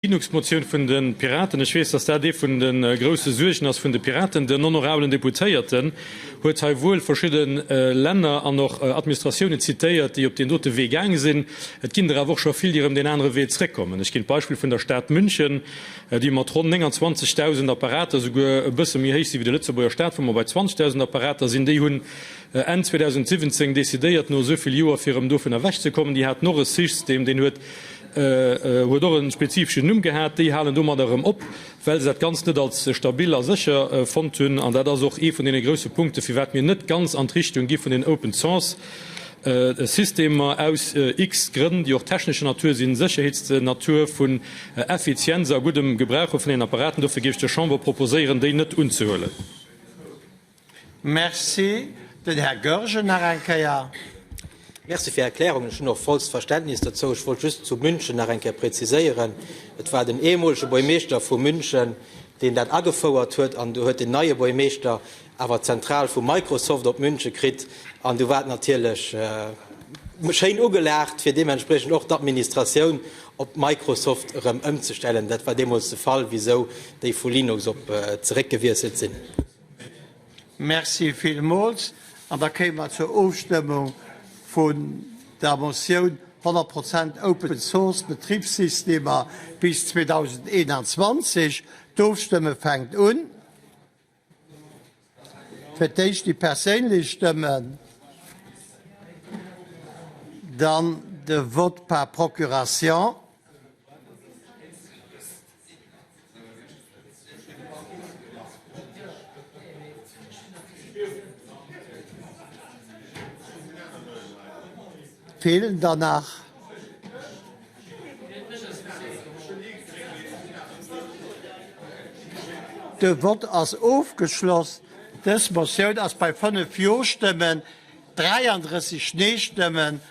D'Genugsmotioun vun de Piraten, ech weess, dass dat ee vun de grouse Suergen ass vun de Piraten. Den honorabelen Deputéierten huet hei wuel verschidde Länner an och Administratiounen zitéiert, déi op deen dote Wee gaange sinn. Et ginn der awer och scho vill, déi erëm deen anere Wee zréckkommen. Ech ginn d'Beispill vun der Stad München, déi mat ronn 29.000 Apparater, souguer e bësse méi héich si wéi de Lëtzebuerger Stat, wou mer bei 20.000 Apparater sinn, déi hunn, Enn 2017 decidéiert, no esou vill Joer, fir erëm dovun ewech ze kommen. Déi haten och e Sys-tem, deen huet huet och e spezifeschen Numm gehat. Déi halen domadder erëm op, well se dat Ganzt net als stabil a sécher fonnt hunn. An dat ass och ee vun deene grouse Punkte, firwat mir net ganz an d'Richtung gi vun den Open Source-Systemer, aus x Grënn, déi och technescher Natur sinn, Sécherheetsnatur, vun Effizienz a guddem Gebrauche vun den Apparaten. Dofir géif ech der Chamber proposéieren, déi net unzehuelen. Merci. Den Här Goergen nach eng Kéier. Merci fir Är Erklärung. Ech hunn och vollst Verständnis dozou. Ech wollt just zu München nach eng Kéier preziséieren, Et war den ehemolege Buergmeeschter vu München, deen dat agefouert huet, an du huet den neie Buergmeeschter awer d'Zentral vu Microsoft op München kritt, an du war et natierlech schéin ugelaacht, fir deementspriechend och d'Administratioun op d'Microsoft erëm ëmzestellen. Dat war deemools de Fall, wisou déi vu Linux op zeréckgewiesselt sinn. Merci villmools. An da kéime mer zur Ofstëmmung vun der Motioun 100 Prozent Open Source, Betribssystemer bis 2021. D'Ofstëmme fänkt un. Fir d'éischt déi perséinlech Stëmmen, dann de Vote par procuration. Feelen der nach? De Vott ass ofgeschloss. Dës Motioun ass bei 5 Jo-Stëmmen, 33 Nee-Stëmmen